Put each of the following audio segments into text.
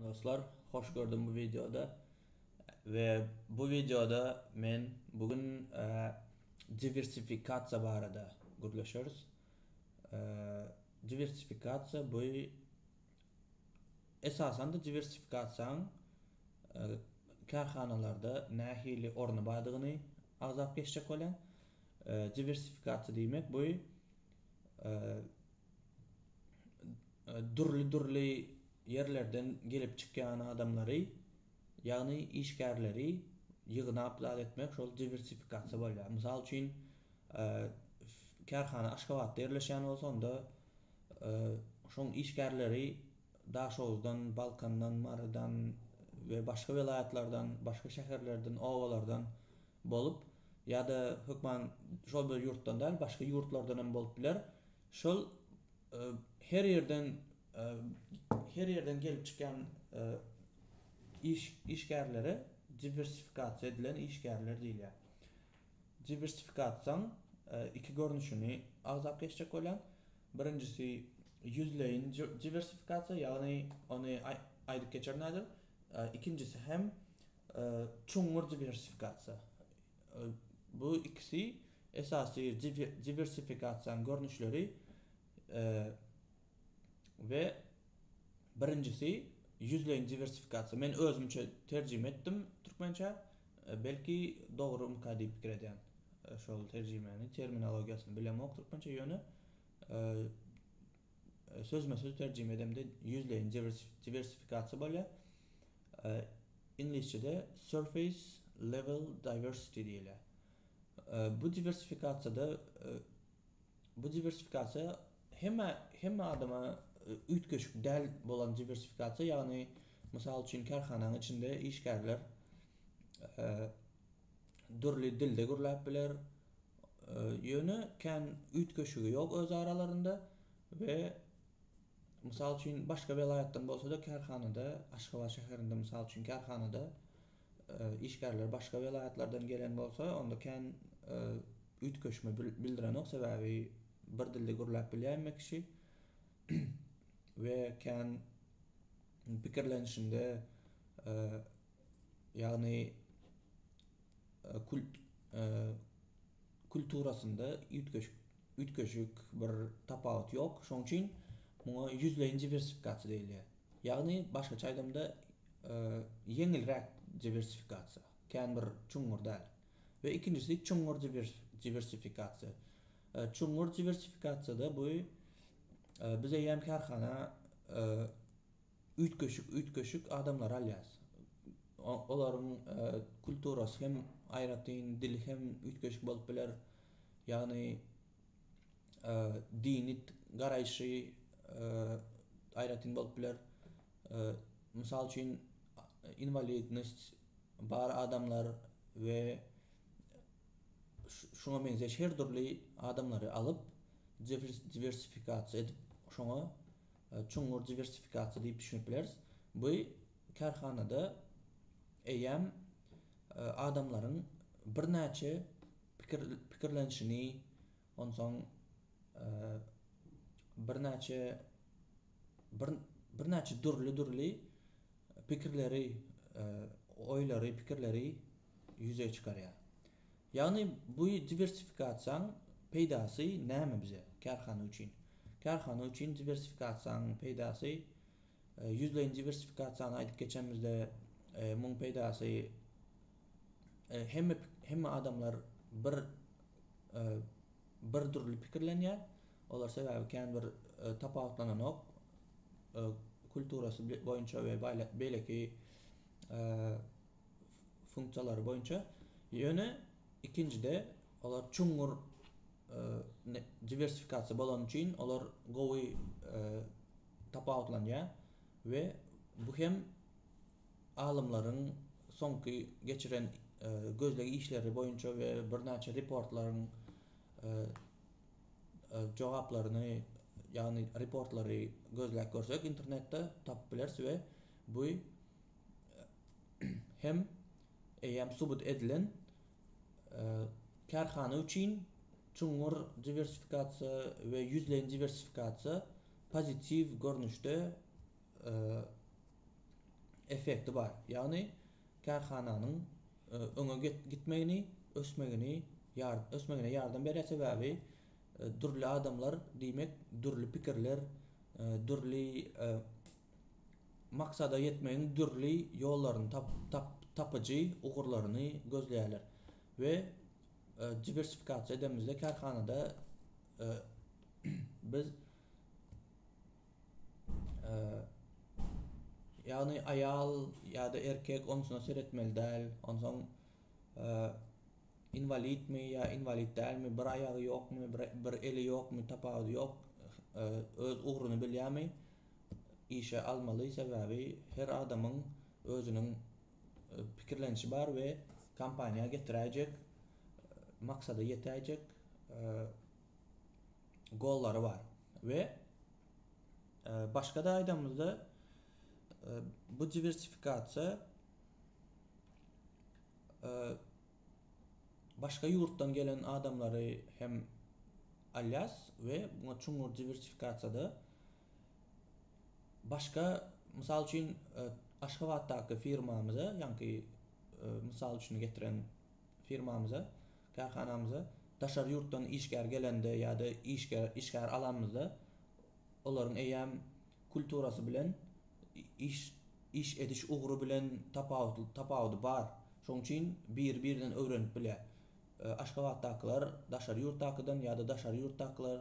Dostlar hoş gördüm bu wideoda we bu wideoda men bu gün diwersifikasiýa barada gürleşeris. Diwersifikasiýa bu esasan da diwersifikasiýaň kärhanalarda nähili orny bardygyny agzap geçjek bolýan. Diwersifikasiýa diýmek bu dürli-dürli ýerlerden gelip çykýan adamlary, ýagny işgärleri ýygnap zat etmek şol diwersifikasiýa bolýar. Mysal üçin, e, kärhana Aşgabatda ýerleşýän bolsa, onda e, şoň işgärleri Daşoguzdan, Balkandan, Marydan we başga welaýatlardan, başga şäherlerden, obalardan bolup ýa-da hökman şol bir ýurtdan däl, başga ýurtlardan hem bolup biler. Şol her ýerden her ýerden gelip çykýan iş işgärlere diwersifikasiýa edilen işgärler diýilýär. Diwersifikasiýaň iki görnüşini agzap geçjek bolýan. Birinjisi ýüzleýin diwersifikasiýa, ýagny ony aýdyp geçerin häzir. Ikinjisi hem çuňňur diwersifikasiýa. Bu ikisi esasy diwersifikasiýanyň görnüşleri we birinjisi ýüzleýin diwersifikasiýa. Men özümçe terjime etdim türkmençä. Belki dogrumyka diýip pikir edýän. Şol terjimäni, terminologiýasyny bilemok türkmençe ýöne Sözme-söz terjime edemde ýüzleýin diwersifikasiýa bolýar. Iňlisçede surface level diversity diýilýär. Bu diwersifikasiýada bu diwersifikasiýa hemme hemme adama üýtgeşik däl bolan diwersifikasiýa, ýagny mysal üçin kärhananyň içinde işgärler dürli dilde gürläp biler, Ýöne kän üýtgeşigi ýok öz aralarynda we mysal üçin başga welaýatdan bolsada kärhanada Aşgabat şäherinde mysal üçin kärhanada işgärler başga welaýatlardan gelen bolsa onda kän üýtgeşme bildirenok sebäbi bir dilde gürläp bilýär emma kişi we kän pikirlenişinde ýagny kult kulturasynda üýtgeşik üýtgeşik bir tapawut ýok şoň üçin muňa ýüzleýin diwersifikasiýa diýilýär ýagny başgaça aýdamda ýeňilräk diwersifikasiýa kän bir çuňňur däl we ikinjisi çuňňur diwersifikasiýa çuňňur diwersifikasiýada bu biz eýýäm kärhana üýtgeşik-üýtgeşik adamlary alýas. Olaryň kulturasy hem aýratyn, dili hem üýtgeşik bolup biler. Ýagny dini garaýşy aýratyn bolup biler. Mysal üçin, inwalidnost bar adamlar we şuňa meňzeş her dürli adamlary alyp, diwersifikasiýa edip, şoňa çuňňur diwersifikasiýa diýip düşünip bileris. Bu kärhanada eýýäm adamlaryň birnäçe pikir pikirlenişini, onsoň birnäçe bir birnäçe dürli-dürli pikirleri, oýlary, pikirleri ýüze çykarýar. Ýagny bu diwersifikasiýaň peýdasy näme bize, kärhana üçin? Kärhana üçin diwersifikasiýaň peýdasy, ýüzleýin diwersifikasiýany aýdyp geçemizde, muň peýdasy hemme hemme adamlar bir bir dürli pikirlenýär. Olar sebäbi kän bir tapawutlananok kulturasy boýunça we beýleki funksiýalary boýunça, ýöne ikinjide olar çuňňur diwersifikasiýa bolany üçin olar gowy tapawutlanýar we bu hem alymlaryň soňky geçiren gözleg işleri boýunça we birnäçe reportlaryň jogaplaryny ýagny reportlary gözläp görsek internetde tapyp bileris we bu hem eýýäm subut edilen kärhana üçin çuňňur diwersifikasiýa we ýüzleýin diwersifikasiýa pozitiw görnüşde effekti bar, ýagny kärhananyň öňe gitmegini, ösmegini ösmegine ýardam berýär, sebäbi dürli adamlar diýmek dürli pikirler, dürli. maksada ýetmegiň dürli ýollaryny tapyjy ugurlaryny gözleýärler we diwersifikasiýa edemizde kärhanada biz ýagny aýal ýa-da erkek onusuna seretmeli däl onsoň inwalidmi ýa inwalid dälmi bir aýagy ýokmy bir eli ýokmy tapawudy ýok öz ugruny bilýärmi işe almaly, sebäbi her adamyň özüniň pikirlenişi bar we kompaniýa getiräýjek, maksada ýetäýjek gollary bar we başga-da aýdanymyzda bu diwersifikasiýa başga ýurtdan gelen adamlary hem alýas we muňa çuňňur diwersifikasiýada başga mysal üçin aşgabatdaky firmamyza ýaňky mysal üçin getiren firmamyza kärhanamyza daşary ýurtdan işgär gelende ýa-da işgär alanymyzda olaryň eýýäm kulturasy bilen iş iş ediş ugry bilen tapawut tapawudy bar. Şoň üçin biri birinden öwrenip bilýär. Aşgabatdakylar daşary ýurtdakydan ýa-da daşary ýurtdakylar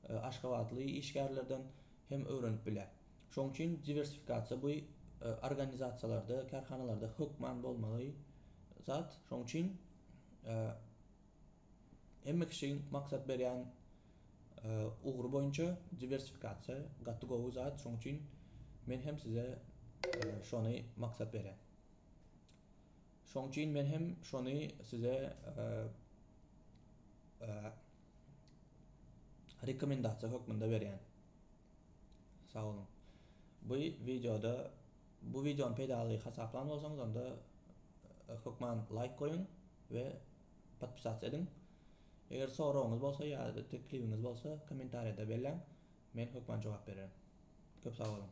aşgabatly işgärlerden hem öwrenip bilýär. Şoň üçin diwersifikasiýa bu organizasiýalarda, kärhanalarda hökman bolmaly zat. Şoň üçin Hemme kişiň maksat berýän ugry boýunça diwersifikasiýa gaty gowy zat şoň üçin men hem size şony maksat berýän. Şoň üçin men hem şony size rekomendasiýa hökmünde berýän. Sag boluň. Bu wideoda bu wideony peýdaly hasaplan bolsaňyz onda hökman laýk goýuň we podpisasiýa ediň. Eger soragyňyz bolsa ýa-da teklibiňiz bolsa kommentariýada belläň. Men hökman jogap bererin. Köp sag boluň.